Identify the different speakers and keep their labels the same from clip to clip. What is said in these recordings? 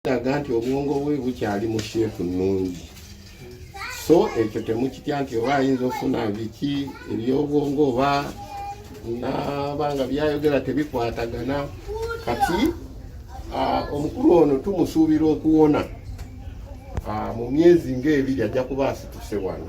Speaker 1: kiraga nti obwongo bwe bukyali mu sheepu nnungi so ekyo temukitya nti oba ayinza okufuna biki ebyobwongo oba nabanga byayogera tebikwatagana kati omukulu ono tumusuubira okuwona mu myezi ngaebiri ajja kuba asituse wano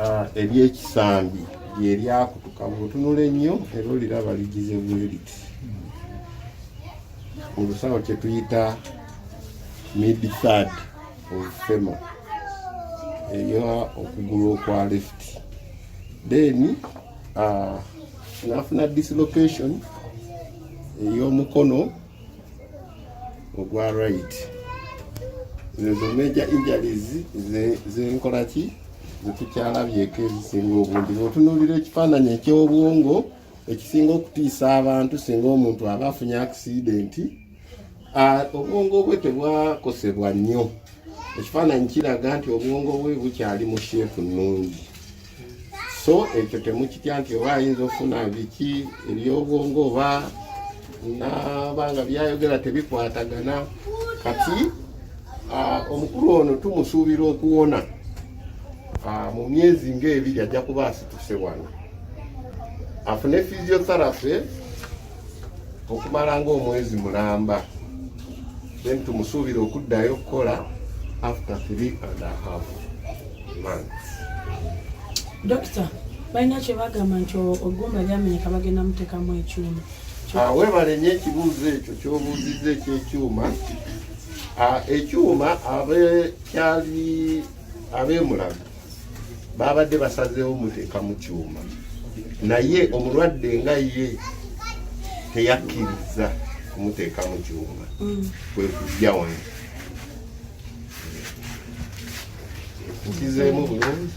Speaker 1: ah, ery'ekisambi lye lyakutuka bwotunula ennyo era oliraba ligize bweriti mu lusawo kye tuyita mid third of fema eya okugulu okwa left then ah, nafuna dislocation ey'omukono ogwa right ezo major injuries zenkola ki zetukyalabyeko ezisinga obungi otunulira ekifaananyi ekyobwongo ekisinga okutiisa abantu singa omuntu aba afunye akisidenti obwongo bwe tebwakosebwa nnyo ekifaananyi kiraga nti obwongo bwe bukyali mu sheepu nnungi so ekyo temukitya nti oba ayinza ofuna biki ebyobwongo oba nabanga byayogera tebikwatagana kati ah, omukulu ono tumusuubira okuwona ah, mu myezi ngaebiri ajja kuba asituse wano afune physiotherapy okumala ng'omwezi mulamba then tumusuubira okuddayo okukola after three and a half months
Speaker 2: dokita balina kyebagamba nti ogumba lyamenyeka bagenda mutekamu ekyuma ah, webale
Speaker 1: nyo ekibuuzo ekyo kyobuuziza ekyekyuma ah, ekyuma abe kyali abemulago baabadde basazeewo muteeka mu kyuma naye omulwadde nga ye teyakkiriza kumuteeka mu kyuma mm. kwe kujja wano nkizeemu bulungi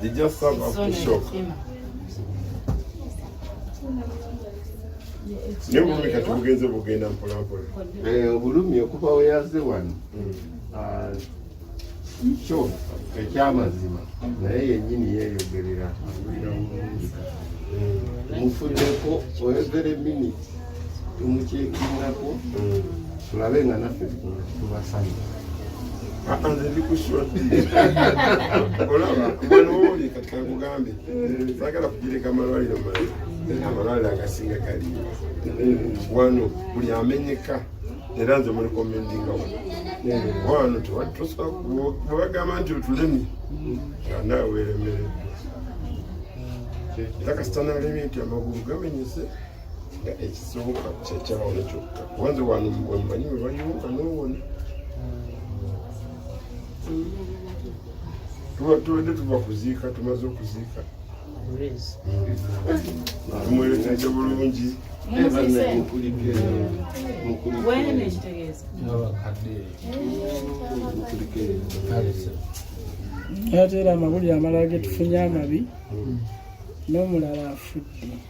Speaker 2: They just serve up
Speaker 1: the shock. Naye obulumi kati bugenze bugenda mpola mpola. Eh, obulumi okuva we yazze wano. Mm. Ah, kyo ekyamazima naye yennyini yeeyogerera. Mm. Mufuddeko oyogere miniti. tumukyekingako tulabe nga naffe tubasanye nze ndi ku shoti olaba mwana woli kati kankugambye sagala kugireka amalwaliro mala amalwaliro agasinga kali wano buli amenyeka era nze muli komendinga wano wano tewatosbwebagamba nti otulemi anawe weremereddwa era kasita nalemye nti amagulu gamenyese nga ekisooka kyekyawona kyokka kubanze wano wemumanyi webayonga nowona tubadde tuva kuziika tumaze okuziika tumwerekeje bulungi
Speaker 3: ate era amawulire amalala getufunye amabi
Speaker 2: n'omulala
Speaker 3: afudde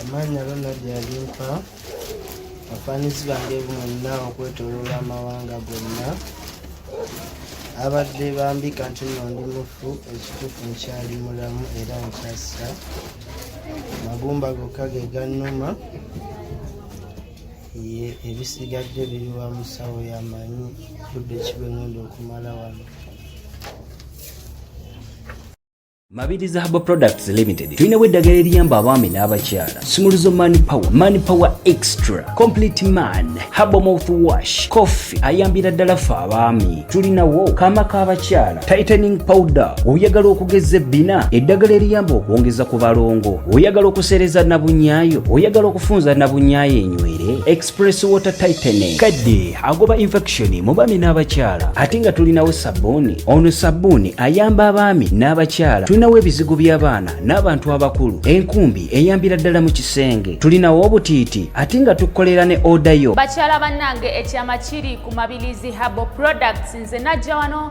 Speaker 4: amaanya ronald alimpa abafaanizi bange bonna okwetoloola amawanga gonna abadde bambika nti no ndi mufu ekituufu nkyali mulamu era nkyassa magumba gokka ge gannuma ye ebisigadde biri wa musawo yamanyi budde kibengenda okumala wano
Speaker 5: Mabiri Zahaba Products Limited tulinawo eddagala eriyamba abaami n'abakyala sumuluzo man power man power extra complete man habo mouth wash coffee ayambira ddala fe abaami tulinawo kaama k'abakyala tightening powder oyagala okugeza ebbina eddagala eriyamba okwongeza ku balongo oyagala okuseereza nabunyaayo oyagala okufunza nabunyaayo enywere Press water tightening kadde agoba infection mu baami n'abakyala ate nga tulinawo sabbuuni ono sabbuuni ayamba abaami n'abakyala tulinawo ebizigo by'abaana n'abantu abakulu enkumbi eyambira ddala mu kisenge tulinawo obutiiti ate nga tukolera ne oda yo bakyala bannange
Speaker 6: ekyama kiri ku mabilizi habo products nze najja wano